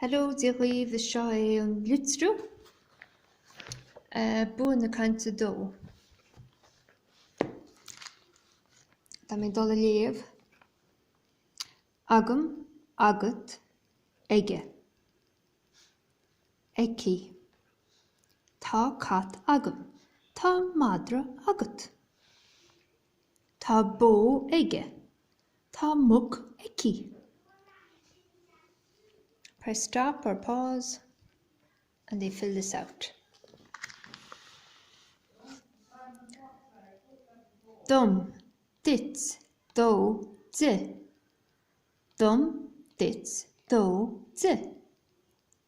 Hello Dia dhaoibh, seo é an litriú. Bua na Cainte dó. Tá mé ag dul a léamh. Agam, agat, aige. Aici. Tá cat agam. Tá madra agat. Tá bó aige. Tá muc aici. Press stop or pause and they fill this out. dom, duit, dó, di. dom, duit, dó, di.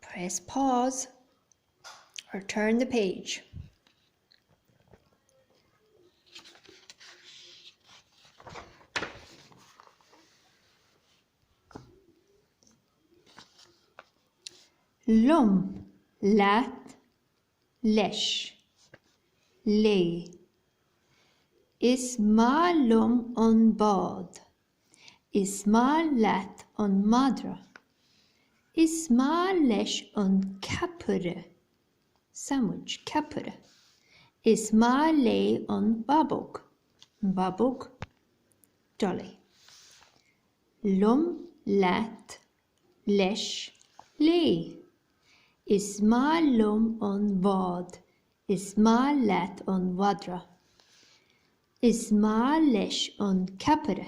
Press pause, or turn the page. liom, leat, leis, léi, Is maith liom an bád. Is maith leat an madra. Is maith leis an ceapaire. Sandwich, ceapaire. Is maith léi an babóg. Babóg, dolly. liom leat leis léi Is maith liom an bád. Is maith leat an mhadra. Is maith leis an ceapaire.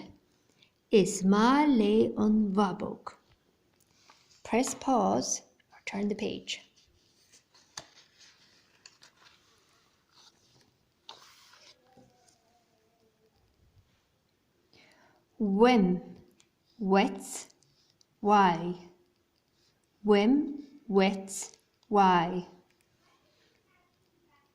Is maith lei an bhabóg. Press pause or turn the page. Uaim, uait, uaidh. Uaim, uait, uaidh.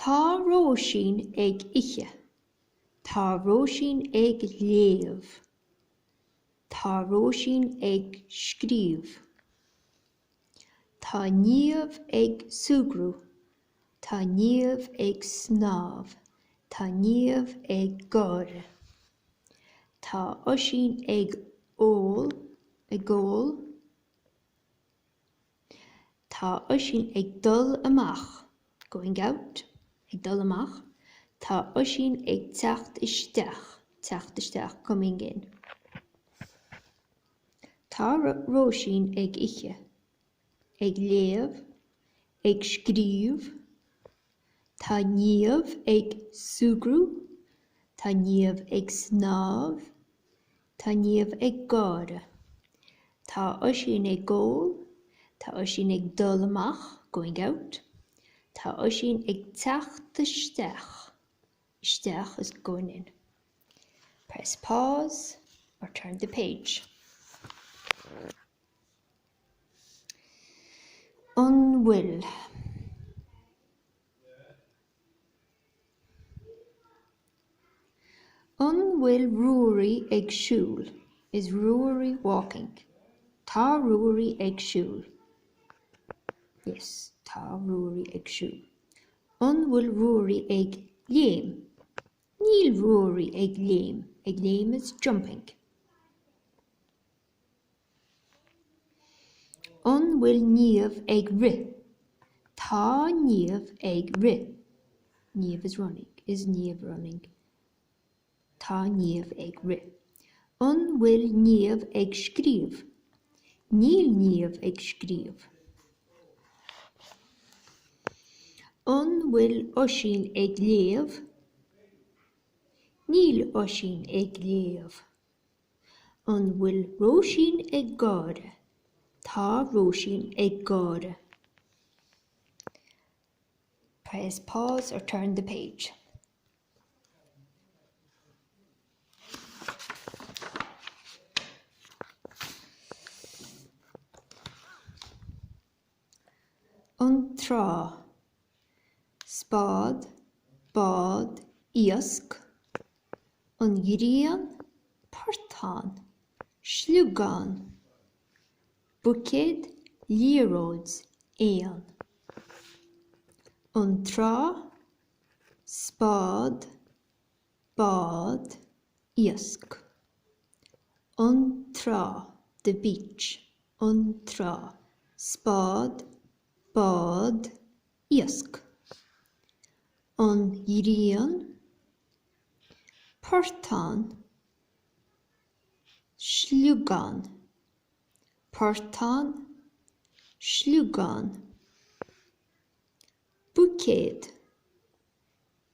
Tá Róisín ag ithe. Tá Róisín ag léamh. Tá Róisín ag scríobh. Tá Niamh ag súgradh. Tá Niamh ag snámh. Tá Niamh ag gáire. Tá Oisín ag ól, ag ól. Tá Oisín ag dul amach, going out. Ag dul amach, Tá Oisín ag teacht isteach, teacht isteach, coming in. Tá Róisín ag ithe, ag léamh, ag scríobh, Tá Niamh ag súgradh, Tá Niamh ag snámh, Tá Niamh ag gáire. Tá Oisín ag ól. Tá Oisín ag dul amach, going out. Tá Oisín ag teacht isteach, isteach is going in. Press pause or turn the page. An bhfuil? An bhfuil Ruairí ag siúl? Is Ruairí walking? Tá Ruairí ag siúl. Yes, Tá Ruairí ag siúl. An bhfuil Ruairí ag léim? Níl Ruairí ag léim. Ag léim is jumping. An bhfuil Niamh ag rith? Tá Niamh ag rith. Niamh is running. Is Niamh running? Tá Niamh ag rith. An bhfuil Niamh ag scríobh? Níl Niamh ag scríobh. An bhfuil Oisín ag léamh? Níl Oisín ag léamh. An bhfuil Róisín ag gáire? Tá Róisín ag gáire. Press pause or turn the page. an trá, spád, bád, iasc, an ghrian, portán, sliogán, buicéad, liathróid, éan, an trá, spád, bád iasc. an trá, the beach. an trá, spád, bád iasc. an ghrian, portán, sliogán, portán, sliogán. buicéad,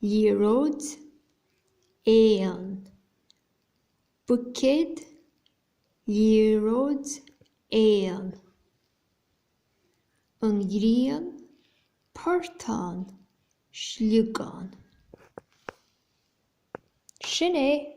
liathróid éan, buicéad, liathróid éan, an ghrian, portán, sliogán. Sin é!